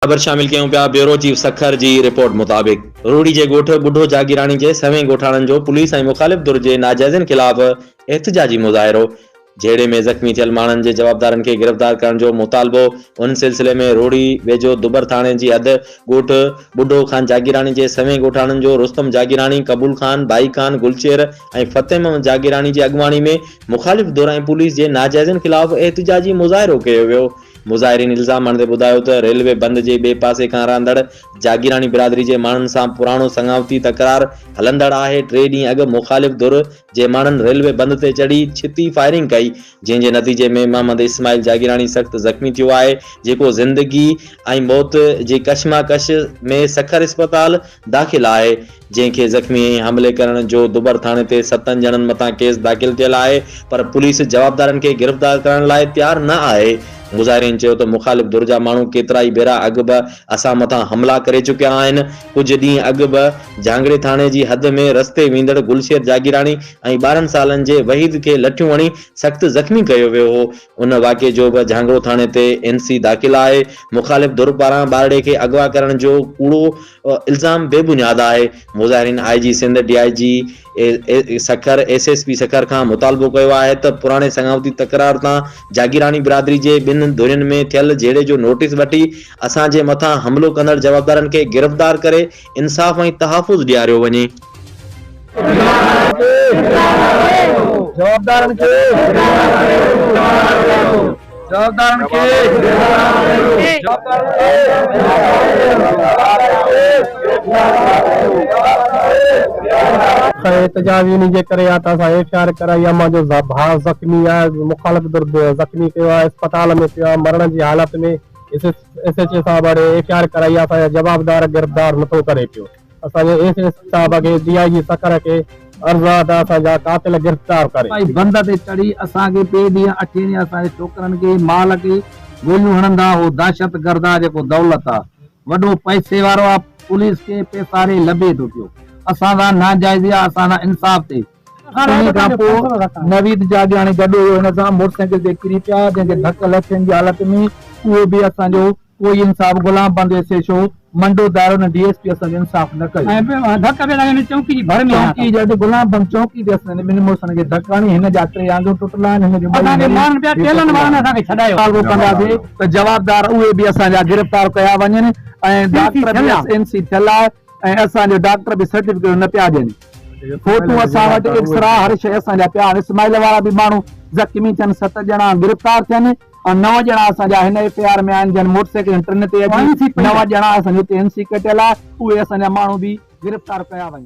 خبر شامل ڪيون پيا بيورو چيف سکر جي رپورٽ مطابق روهڙي جي ڳوٺ ٻڍو جاگيراڻي جي سوين ڳوٺاڻن جو پوليس ۽ مخالف ڌر جي ناجائزين خلاف احتجاجي مظاهرو جهيڙي ۾ زخمي ٿيل ماڻهن جي جوابدارن کي گرفتار ڪرڻ جو مطالبو ان سلسلي ۾ روهڙي ويجهو دٻر ٿاڻي جي حد ڳوٺ ٻڍو خان جاگيراڻي جي سوين ڳوٺاڻن جو رستم جاگيراڻي قبول خان ڀائي خان گلچهر ۽ فتح محمد جاگيراڻي جي اڳواڻي ۾ مخالف ڌر ۽ پوليس جي ناجائزين خلاف احتجاجي مظاهرو ڪيو ويو مظاهرين الزام هڻندي ٻڌايو ته ريلوي بند جي ٻئي پاسي کان رهندڙ جاگيراڻي برادري جي ماڻهن سان پراڻو سڱاوتي تڪرار هلندڙ آهي، ٽي ڏينهن اڳ مخالف ڌر جي ماڻهن ريلوي بند تي چڙهي ڇتي فائرنگ ڪئي، جنهن جي نتيجي ۾ محمد اسماعيل جاگيراڻي سخت زخمي ٿيو آهي، جيڪو زندگي ۽ موت جي ڪشمڪش ۾ سکر اسپتال داخل آهي، جنهن کي زخمي ۽ حملي ڪرڻ جو دٻر ٿاڻي تي ستن ڄڻن مٿان ڪيس داخل ڪيل آهي پر پوليس جوابدارن کي گرفتار ڪرڻ لاء تيار نه آهي. مظاهرين چيو ته مخالف ڌر جا ماڻهو ڪيترائي ڀيرا اڳ به اسان مٿان حملا ڪري چڪيا آهن، ڪجهه ڏينهن اڳ به جهانگڙي ٿاڻي جي حد ۾ رستي ويندڙ گلشير جاگيراڻي ۽ ٻارهن سالن جي وحيد کي لٺيون هڻي سخت زخمي ڪيو ويو هو، ان واقعي جو به جهانگڙو ٿاڻي تي اين سي داخل آهي، مخالف ڌر پاران ٻارڙي کي اغوا ڪرڻ جو ڪوڙو الزام بي بنياد آهي، مظاهرين I G Sindh, D I G Sukkur, S S P Sukkur کان مطالبو ڪيو آهي ته پراڻي سڱاوتي تڪرار تان جاگيراڻي برادري جي ٻن ڌرين ۾ ٿيل جهيڙي جو نوٽيس وٺي اسان جي مٿان حملو ڪندڙ جوابدارن کي گرفتار ڪري انصاف ۽ تحفظ ڏياريو وڃي. گناهگارن کي جوابدارن کي جوابدارن کي جوابدارن کي اسان احتجاج انهي جي ڪري آهي ته اسان ايف آء آر ڪرائي امان جو ڀاء زخمي آهي مخالف ڌر زخمي ٿيو آهي اسپتال ۾ پيو آهي مرڻ جي حالت ۾ ايس ايڇ او صاحب اڙي ايف آء آر ڪرائي آ اسان جا جوابدار گرفتار نٿو ڪري پيو اسان جي ايس ايڇ او صاحب کي ڊي آء جي سکر کي عرض آ ته اسان جا قاتل گرفتار ڪري. سپاهي بند تي چڙهي اسان کي ٽي ڏينهن اٺين ڏينهن اسان جي ڇوڪرن کي مال کي گوليون هڻندا اهو دهشت گرد آ جيڪو دولت آ وڏو پئسي وارو آ پوليس کي پيساري لڀي ٿو پيو اسان سان ناجائزي آ اسان سان انصاف ٿئي. انهيء کان پوء نويد جاڳياڻي گڏ هيو، هن سان موٽر سائيڪل تي ڪري پيا، جنهن کي ڌڪ لٿين جي حالت ۾ اهو به اسان جو ڪوئي انصاف غلام بند S H O Mando Dero ۽ D S P اسان جو انصاف نه ڪيو. چونڪي جڏهن غلام بند چونڪي تي اسان جي ٻنهي مڙسن کي ڌڪ هڻي هن جا ٽي آڱريون ٽٽل آهن، هن جون ٻئي نريون به ٽٽل آهن. مطالبو ڪنداسين ته جوابدار اهي به اسان جا گرفتار ڪيا وڃن ۽ ڊاڪٽر به ايس اين سي ٿيل آهي ۽ اسان جو ڊاڪٽر به سرٽيفڪيٽون نه پيا ڏين. فوٽو اسان وٽ ايڪسرا هر شيء اسان جا پيا آهن اسماعيل وارا به ماڻهو زخمي ٿين ست ڄڻا گرفتار ٿين ۽ نو ڄڻا اسان جا هن ايف اي آر ۾ آهن جن موٽر سائيڪلن ٽن تي اچي نو ڄڻا اسان جي اتي اين سي ڪٽيل آهي اهي اسان جا ماڻهو به گرفتار ڪيا وڃن.